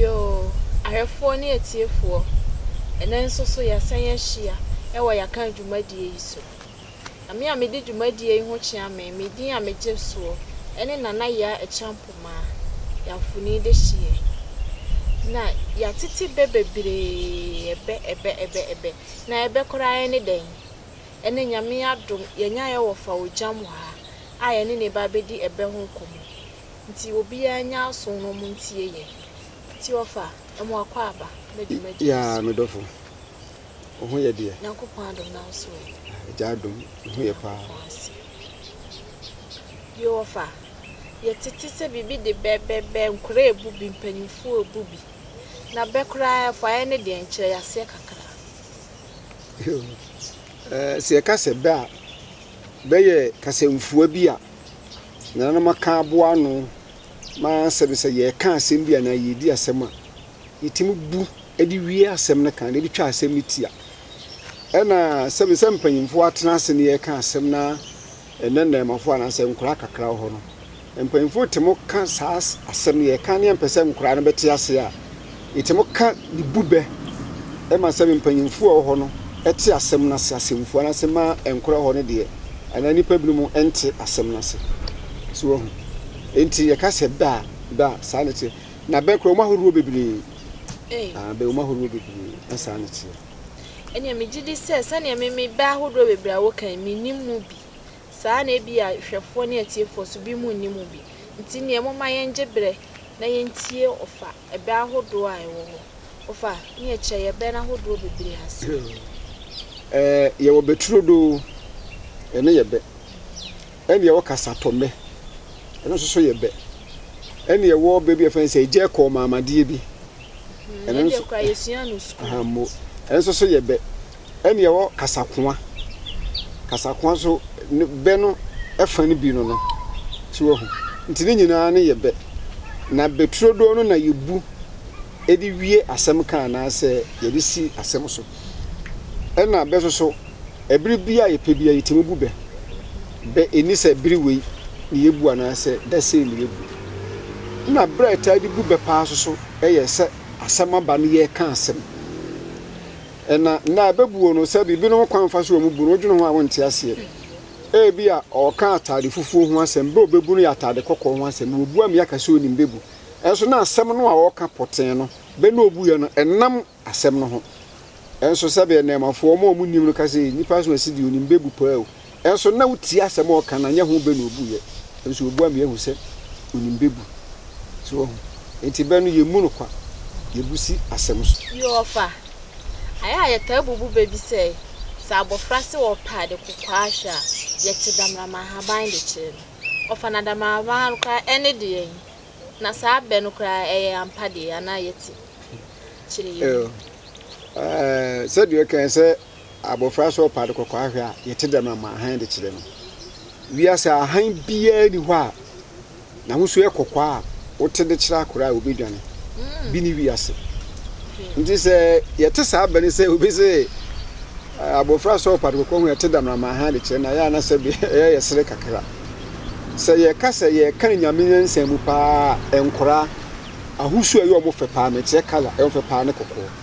Yoo, ahwɛfoɔ ne atiefoɔ, ɛnnɛ nso so yɛasan ahyia wɔ Yɛaka dwumadie yi so. Na me a medi dwumadie yi ho kyea me, me din a megye soɔ ne Nana Yaa Acheampong-Maa, Yafuni dehyeɛ. Na yɛatete bɛ bebree, ɛbɛ, ɛbɛ, ɛbɛ, ɛbɛ. Na ɛbɛ koraa ne dɛn? Ɛnnɛ Nyame adom, yɛanya Ɛwɔfa Ogyam wɔ ha a yɛne no reba abɛdi ɛbɛ ho nkɔmmɔ. Nti obiaa nyɛ aso na ɔmo ntie yɛn. Tiɔfa, ɛmo akwaaba, na dwumadie yi so. Yaa me dɔfo, wo ho yɛ deɛ. Nyankopɔn adom na wo so ɛ. Agya adom, wo ho yɛ paa. Nyankopɔn ase. Tiɔfa, yɛ tete sɛ biribi de bɛ, bɛ, bɛ, nkora ebu bi, mpanyinfoɔ ebu bi. Na bɛ koraa ɛfuaɛ ne deɛ nkyerɛ, yaseɛ kakra. Yoo, ɛɛ, sɛ yɛka sɛ bɛ a, bɛ yɛ kasɛmfua bi a. nananom aka aboa ano ma asɛ no sɛ yɛreka asɛm bi anaa yɛredi asɛm a, yɛtumi bu de wie asɛm no kan na ebi twa asɛm no tia. Ɛna sɛbi sɛ mpanyimfoɔ atena ase na yɛreka asɛm na ɛnɛ nnɛɛmafoɔ anaasɛ nkwadaa kakra wɔ hɔ no, mpanyimfoɔ tumi ka saa asɛm no yɛreka no yɛmpɛ sɛ nkwadaa no bɛte ase a, Etse mo ka de bu bɛ ma sɛ me mpanyimfo a wɔwɔ hɔ no te asɛm no ase asɛmfua no ase ma ɛnkora hɔ no deɛ, anaa nnipa binom nte asɛm no ase. So woahu? Enti yɛka sɛ bɛ a, bɛ a, saa na ɛteɛ. Na bɛ koraa, wɔn ahoroɔ bebree. Ah, bɛ, wɔn ahoroɔ bebree, na saa na ɛteɛ. Ɛnneɛ megye di sɛ sɛdeɛ me, me bɛ ahodoɔ bebree a woka yi, mennim mu bi. Saa ara na ebia hwɛfoɔ ne atiefoɔ nso, binom nnim mu bi. Nti nneɛ momma yɛngye berɛ na yɛntie ɔfa. ɛbɛ ahodoɔ a ɛwɔ hɔ. Ɔfa ne ɛkyɛ yɛ bɛ no ahodoɔ bebree ase. Ɛɛ, yɛwɔ bɛ turodoo, ɛno yɛ bɛ. Ɛna yɛwɔ kasatɔmmɛ, ɛno nso so yɛ bɛ. Ɛna yɛwɔ bɛ bi a yɛfrɛ no sɛ egya kɔɔmaamadeɛ bi. Ɛno deɛ koraa yɛsuaa no sukuu. Ɛno nso so yɛ bɛ. ɛna yɛwɔ kasakoa. Kasakoa nso ne bɛ no fa no bi no no. So wahu? Nti ne nyinaa no yɛ bɛ. Na bɛ turodoo no na yɛbu de wie asɛm ka anaasɛ yɛde si asɛm so. Ɛna bɛ nso so, ɛbere biara a yɛpɛ biara yɛtumi bu bɛ. Bɛ ɛnni sɛ bere wei na yɛbu anaasɛ da sei na yɛbu. Ɛna bere a yɛtaa de bu bɛ paa nso so yɛ sɛ asɛm aba no yɛreka asɛm. Na nna ɛbɛbuo no sɛ biribinom kwan fa so wɔ mu bu no, wodwene ho a wonte aseɛ. Ebia ɔreka ataade fufuo ho asɛm, berɛ a ɔbɛbu no yɛ ataade kɔkɔɔ ho asɛm. Na wabua me aka sɛ ɔnim bɛbu. Nanso na asɛm no a ɔreka pɔtee no, bɛ na ɔbuiɛ no, ɛnam asɛm no ho. Nanso sɛdeɛ nnɛɛmafoɔ, wɔn a wɔnim no ka sɛ, Nipa so asi deɛ ɔnim bɛbu paa o. Nso na wotie asɛm a ɔka na nyɛ ho bɛ na obu yɛ nso obua me ahu sɛ onim bɛ bu so wahu nti bɛ no yɛ mmu no kwa yɛ bu si asɛm so. Yoo ɔfa. Ayɛ a yɛtaa bubu bɛ bi sɛ sɛ abɔfra se ɔpɛ ade kokwaa ahwɛ a yɛkye damrama ahaban de kyerɛ no ɔfa na damrama ahaban no koraa ɛne deɛ he na saa bɛ no koraa ɛyɛ ampa deɛ anaa yɛte kyerɛ yɛ mu. Yoo aa sɛdeɛ ɔkae sɛ abofra sɛ ɔpa ade kɔkɔɔ ahwɛ a, yɛte dɛm ara ma hann de kyerɛ no. Wiase a hann biara nni hɔ a n'ahosu yɛ kɔkɔɔ a wote de kyerɛ akora a obedwane bi ne wiase. Nti sɛ yɛte saa bɛ no sɛ obi se abofra sɛ ɔpa ade kɔkɔɔ ho a, yɛte dɛm ara ma hann de kyerɛ no, na ɛyɛ a na sɛbe ɛyɛ yɛ sere kakra. Sɛ yɛka sɛ yɛka Nyame nyansa mu paa a, nkoraa ahosu a ɛyɛ wɔn fɛ paa no, mekyerɛ colour, ɛyɛ wɔn fɛ paa ne kɔkɔɔ.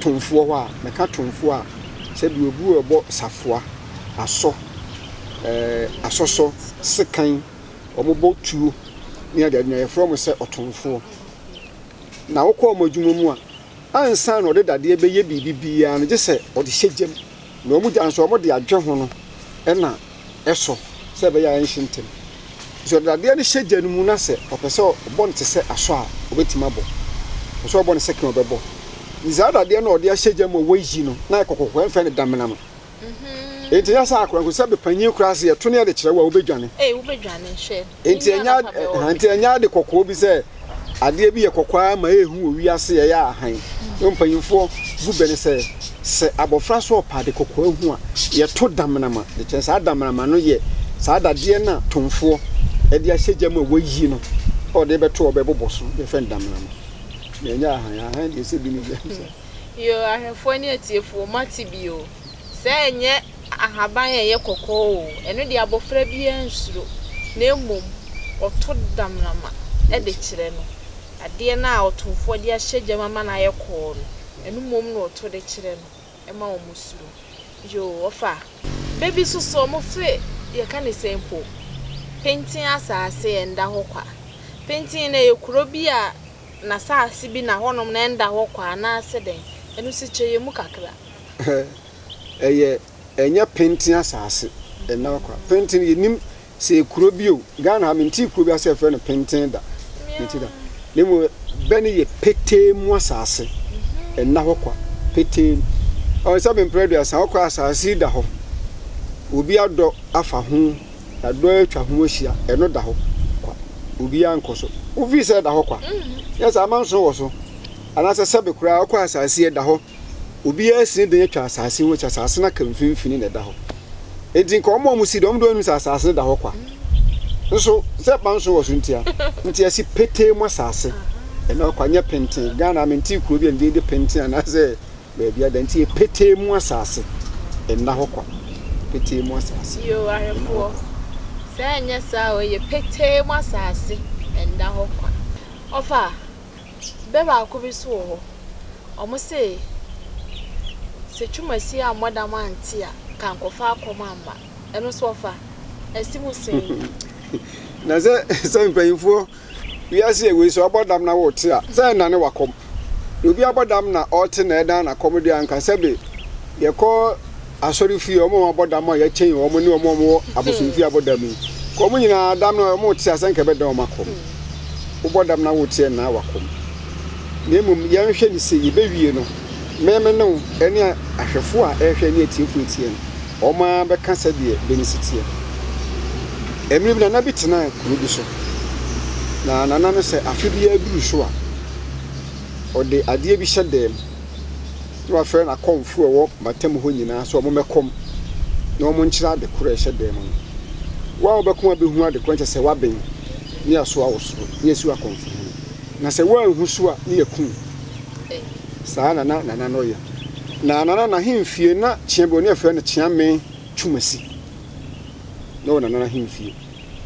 Tomfoɔ hɔ a, mɛka tomfoɔ a sɛdeɛ obi rebɔ safoa, asɔ, ɛɛ asɔsɔ, sekan, wɔbɔ tuo ne adeade nyinaa, yɛfrɛ wɔn sɛ ɔtomfoɔ. Na wokɔ wɔn adwuma mu a, ansa na ɔde dadeɛ bɛyɛ biribi biara no, gye sɛ ɔde hyɛ gya mu. Na wɔn gya nso, wɔde adwe ho no na ɛsɔ sɛ ɛbɛyɛ a ɛnhye ntɛm. Nti wɔde dadeɛ no hyɛ gya no mu na sɛ ɔpɛ sɛ ɔbɔ no te sɛ asɔ a, ɔbɛtumi abɔ. Ɔpɛ sɛ ɔbɔ no sɛke a, ɔbɛbɔ. Nti saa dadeɛ no a wɔde ahyɛ gya mu a wɔayi no, na ɛyɛ kɔkɔkɔkɔ, yɛmfrɛ no damena no. Enti ɛnyɛ sɛ akorankoransabe panyin koraa se yɛto no yɛde kyerɛ wo a, wobɛdwane. Ei, wobɛdwane, hwɛ. Nti ɛnyɛ nti ɛnyɛ ade kɔkɔɔ bi sɛ adeɛ bi yɛ kɔkɔɔ ara ma ɛyɛ hu wɔ wiase ɛyɛ ahan. Yɛn mpanyinfoɔ gu bɛ ne sɛ sɛ abɔfra so ɔpɛ ade kɔkɔɔ ahu a yɛto damanama de kyɛ. Saa damanama no yɛ saa dadeɛ no a tonfoɔ ɛde ahyɛ gya mu a wayi no a ɔde bɛto ɔbɛ bobɔ so yɛfrɛ no damanama. Na ɛnyɛ ahan. Ahan deɛ sɛ bi ne bi. Yoo, ahwɛfoɔ ne atiefoɔ, moate bi oo. Sɛ ɛnyɛ ahaban a ɛyɛ kɔkɔɔ oo, ɛno deɛ abɔfra biara nsuro, na mmom wɔto damena de kyerɛ no. Adeɛ no a ɔtomfoɔ de ahyɛ gya mu ama no ayɛ kɔɔ no, ɛno mmom na wɔto de kyerɛ no ma wɔsuro. Yoo, wɔfa bɛ bi nso so, wɔse, yɛka no sɛn mpo, Pintinn asase ɛnda hɔ kwa. Pintinn no, ɛyɛ kuro bi a n'asase bi na hɔnom na ɛnda hɔ kwa anaasɛ dɛn? Ɛno nso kyerɛ yɛn mu kakra. ɛyɛ ɛnyɛ penten asase ɛna kwa penten yɛnim sɛ yɛ kuro bi o Ghana ha mentee kuro bi asɛ ɛfrɛ no penten da mentee da na mmom bɛ no yɛ petee mu asase ɛna hɔ kwa petee ɔn sɛ mempere aduasa ɔkɔ asase da hɔ obi adɔ afa ho yɛadɔ atwa ho ahyia ɛno da hɔ kwa obi ankɔ so wofii sɛ ɛda hɔ kwa yɛ sɛ amanso wɔ so anaasɛ sɛbe koraa ɔkɔ asase ɛda hɔ obiara si ne dan atwa asase ho, sɛ asase no aka mfimfini na ɛda hɔ. Enti nka wɔn a wɔsi dan, wɔn de wɔn anim sɛ asase no da hɔ kwa. Nso sɛ ɛba nso wɔ so ntia, nti ɛsi petee mu asase ɛna hɔ kwa, nyɛ penten. Ghana mente kuro bi a ne din de penten anaasɛ baabi ada, nti yɛ petee mu asase ɛna hɔ kwa, petee mu asase. Yoo ahwɛfoɔ, sɛ ɛnyɛ saa o, ɛyɛ petee mu asase ɛna hɔ kwa. Ɔfaa. Bɛ baako bi so wɔ hɔ, wɔse sɛ Twum Asie ammɔ dam ante a, nka ankɔfa akɔm amma. Ɛno nso ɔfa? Asi mu sɛn yi? Na sɛ sɛ mpanyimfoɔ wiase a wei so abɔ dam na wote a, sɛ ɛnnane w'akɔm? Na obi abɔ dam na ɔte na ɛdan n'akɔm deɛ a, nka sɛbe yɛkɔ asɔrefie, wɔn a wɔabɔ dam a yɛkyɛn wɔn ne wɔn a wɔwɔ abosomfie abɔ dam yi. Ka wɔn nyinaa dam no a wɔte a sɛ anka ɛbɛdan wɔn akɔm. Wobɔ dam na wote ɛnnan w'akɔm. Na mmom yɛnhwɛ no sei, yɛbɛwie no, me me ne wo ne ahwɛfoɔ a ɛrehwɛ ne atiefoɔ teɛ no, wɔn ara bɛka sɛdeɛ bɛ no si teɛ. Mmerɛ bi nana bi tenaa kuro bi so. Na nana no sɛ afe biara duru so a, ɔde adeɛ bi hyɛ dan mu. Na wafrɛ n'akɔmfo a wɔwɔ m'atam hɔ nyinaa sɛ wɔmmɛkɔm na wɔnkyerɛ ade koro a ɛhyɛ dan mu no. Wo a wobɛkɔm abehu ade koro no kyerɛ sɛ woaben ne asoa wo soro ne asiw akɔmfo hene. Na sɛ woanhu so a ne yɛ kum wo. Saa na na Nana no yɛ. Na Nana no ahemfie na kyea bi wɔ hɔ, na yɛfrɛ no Kyeame Twumasi. Na ɔwɔ Nana no ahemfie.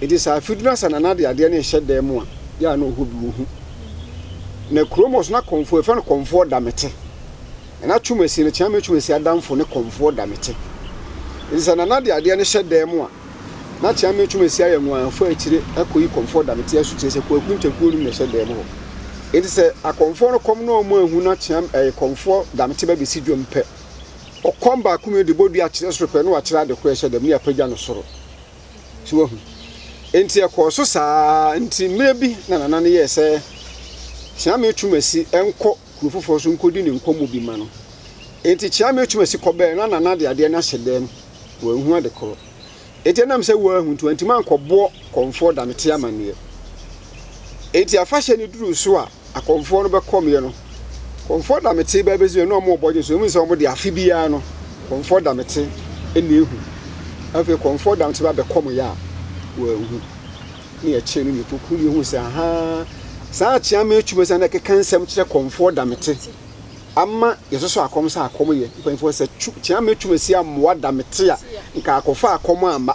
Enti sɛ afe du na sɛ Nana de adeɛ no rehyɛ dan mu a, yɛ a na ɔhɔ bi wɔ hu. Na kurom hɔ nso na Kɔmfoɔ, yɛfrɛ no Kɔmfoɔ Damete. Na na Twumasi no, Kyeame Twumasi adamfo ne Kɔmfoɔ Damete. Enti sɛ Nana de adeɛ no hyɛ dan mu a, na Kyeame Twumasi ayɛ ngo afa akyire akɔyi Kɔmfoɔ Damete asutire sɛ Kwaku Ntakuo nom na ɛhyɛ dan mu hɔ. Enti sɛ Akɔmfoɔ no kɔm na wɔn anhu na Kyeame, ɛɛ, Kɔmfoɔ Damete bɛbɛsi dwam pɛ, ɔkɔm baako mmienu de bɔ dua kyerɛ soro pɛ na wakyerɛ ade korɔ a ɛhyɛ dan mu na yɛapagya no soro. So wahu? Enti ɛkɔɔ so saa ara nti mmerɛ bi na Nana no yɛɛ sɛ Kyeame Twumasi nkɔ kuro foforɔ so nkɔdi ne nkɔmmɔ bi ma no. Enti Kyeame Twumasi kɔbɛɛ na Nana de adeɛ no ahyɛ dan mu, wanhu ade korɔ. Enti ɛnam sɛ wahu nti wantumi ankɔboɔ kɔmfoɔ da no te amanneɛ. Enti afahyɛ no duruu so a, akɔmfoɔ no bɛkɔmeɛ no, kɔmfoɔ damete bɛɛ bɛsi ɛno a wɔn ɔbɔgye so ɛmu sɛ wɔn de afe biara no kɔmfoɔ damete ɛna ehu afei kɔmfoɔ damete ba bɛkɔm yɛ a wɔahu ne ɛkyɛn no nipa kuru yɛ hu sɛ ahaa saa akyea mɛ atwuma sɛ na ɛkeka nsɛm kyerɛ kɔmfoɔ damete ama yɛsoso akɔm sɛ akɔm yɛ mpanyinfoɔ sɛ kyea mɛ atwuma si amoa damete a nka akɔfa akɔm ama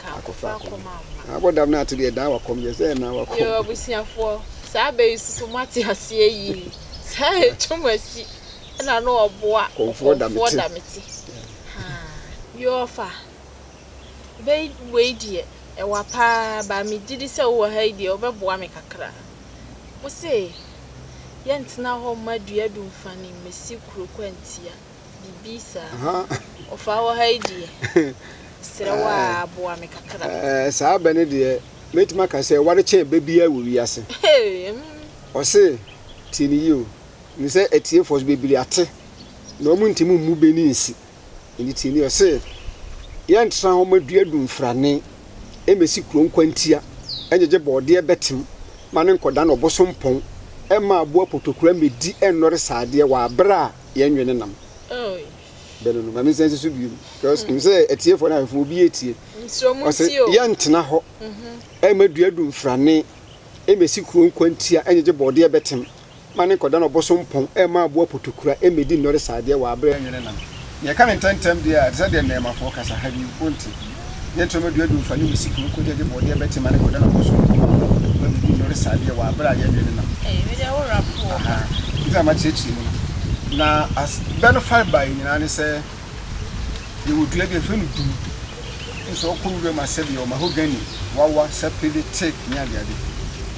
ka akofra kɔm amma. Na abɔ dam no ato deɛ daa wakɔm deɛ sɛ ɛnaa wakɔm. Yoo abusuafoɔ saa bɛ yi soso mo ate aseɛ yie saa yɛ twom asi ɛna no ɔboa kɔmfoɔ damete haa. Yoo fa bɛ yi wei deɛ ɛwa paa baa me gyidi sɛ wowɔ ha yi deɛ wobɛ boa me kakra mo se yɛ ntena hɔ mma dua dunfa nim mesi kuro kwantia. Bibi saa. Ahaa. Ɔfaa wɔ ha yi deɛ, mesrɛ wo ara Ɛɛ, boa me kakra. ɛɛ, saa bɛ no deɛ, mɛtumi aka sɛ ɛware kyɛn bɛ biara wɔ wiase. Hey, mm. Ɔse, tie no yie o, menim sɛ atiefoɔ so bebree ate, na wɔn ntumi mmu bɛ ani nsi. Enti tie no yie. Ɔse, yɛntra hɔ ma dua du mfrane, ɛmmɛsi kuro nkwantia, ɛngyegye bɔɔdeɛ bɛtem, ma no nkɔdane ɔbosompɔn, ɛmma aboa potokura mmɛdi, ɛnnɔre sɛ adeɛ wɔ aberɛ a, yɛn dwene nam bɛ no no ma me nsa nsi so bio because nim sɛ atiefoɔ no ahwɛfoɔ obi etie ɔsɛ yɛntena hɔ mhm. ɛma dua du mfrane ɛmɛsi kuro nkwantia ɛnyegye bɔɔdeɛ bɛtem ma ne nkɔda no ɔboso mpɔn ɛma aboa potokura ɛmɛdi nnɔre saadeɛ wɔ aberɛ nwene nam yɛka ne ntɛntɛm deɛ a ɛte sɛ deɛ nnɛɛmafoɔ kasa ha bi wonte Ne ntorɔma dua dum fa ne wusi kuro kɔgya gye bɔɔdeɛ bɛ tema ne kɔda na kɔ sono kɔma mo ma biribi nnɔre saa deɛ wɔ aberɛ a yɛ dwene no aha nti na ma kyerɛkyerɛ mu no na as bɛ no fa bae nyinaa ne sɛ yɛ wɔ dua bi a fɛ no dum nso ɔkɔ wura mu asɛ deɛ wɔ mahogany wawa sapele teak ne adeade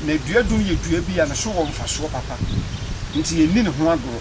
na dua dum yɛ dua bi a ne so wɔ mfasoɔ papa nti yɛ nni ne ho agorɔ.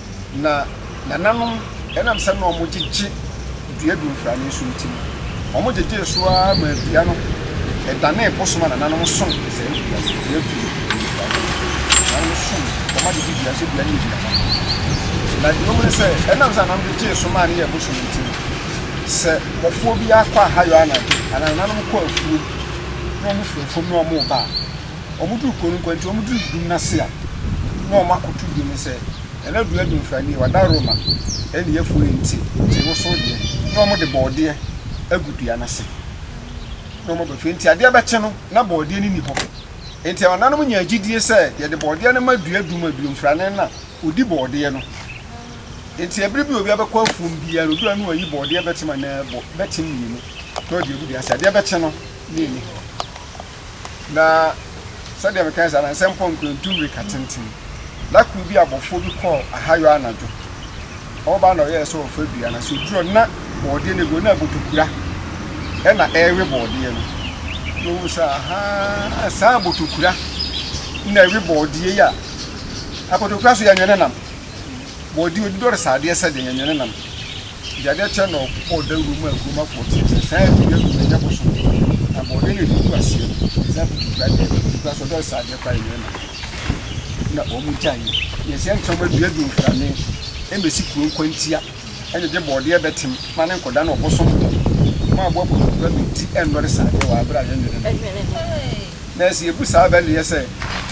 Na nananom, ɛnam sɛ na wɔgyegye dua gu mfrane so nti no, wɔgyegyee so ara maa dua no danee bosom a nananom som saa dua no. Dua tu no gu mfrane so. Nananom som wɔn adedi dua sɛ dua no yɛ aduaba. Na deɛ wɔhu ne sɛ, ɛnam sɛ nananom gyegyee so maa no yɛɛ bosom nti no, sɛ bɔfoɔ biara kɔ ahayɔ anadwo anaa nananom kɔ afuom na wɔfiri afuom na wɔreba a, Ɔmo duru kuro no nkwa nti ɔmo duru dum n'ase a na ɔmo akoto dum no sɛ ɛna dua Dunfra nie wada Roma ɛne yɛfo no nti nti wosow deɛ na ɔmo de bɔɔdeɛ agu dua n'ase na ɔmo aba fie nti adeɛ bɛkye no na bɔɔdeɛ no ni hɔ nti ɔnanom nyaa gyidie sɛ yɛde bɔɔdeɛ no ma dua dum a Dunfra ne na odi bɔɔdeɛ no nti ɛbere bi obi abɛkɔ afuom biara no dura no ayi bɔɔdeɛ bɛtem anaa bɔ bɛtem mmienu na ɔde agu dua ase adeɛ bɛkye no na ɛni hɔ. Na sɛdeɛ mekae saa no, nsɛm kɔ nkrantu mmirika tenten. Da koro bi abɔfoɔ bi kɔɔ ahayɔ anadwo. Ɔba na ɔyɛɛ sɛ ɔfa dua no ase oduru hɔ na bɔɔdeɛ no gu na abotokura na ɛrewe bɔɔdeɛ no. Na ɔhu sɛ ahaa saa abotokura na ɛwe bɔɔdeɛ yi a abotokura so yɛnwe ne nam. Bɔ di odi dɔre saa adeɛ sɛ deɛ nyɛ ne nam. Deɛ adeɛ kyɛ na ɔkɔ dawuro mu a kurom afoɔ teɛ sɛ saa adudu adudu na nyɛ bosom. Na bɔ ɔdeɛ na ɛdi gu aseɛ no saa aputu kura deɛ aputu kura sɛ ɔdɔre saa adeɛ kora yɛ nyɛ ne nam. Na wɔn gya yi yɛ sɛ ntam adua di mfrane ɛmɛsi kuro nkwantia ɛnyɛ gye bɔ ɔdeɛ bɛtem ma ne nkɔda na ɔbosom bɔ ma aboa aputu kura bɛdi ɛnnɔre saa adeɛ wɔ abere a yɛ nyɛ ne nam. na sɛ yɛbu saa bɛ no yɛ sɛ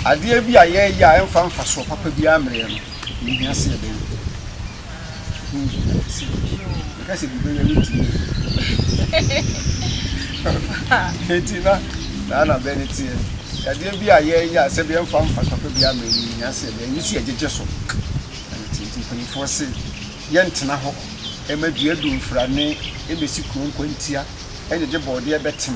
adeɛ bi a yɛreyɛ a ɛmfa mfasoɔ papa biara mmerɛɛ no, yɛhia sɛ yɛbɛyɛ bi. Ɛho hia sɛ yɛyɛ. Meka sɛ bi bɛyɛ a yɛntumi yɛ bi. Enti na saa na bɛ no teɛ. Sɛ adeɛ bi a yɛreyɛ a sɛbi ɛmfa mfasoɔ papa biara mmerɛ no, yɛhia sɛ yɛbɛyɛ. Ɛno nti yɛgyegye so. Na ne teɛ nti mpanimfoɔ se yɛntena hɔ ɛma dua du mfrane ɛbɛsi kuro nkwantia ɛgyegye bɔɔdeɛ bɛtem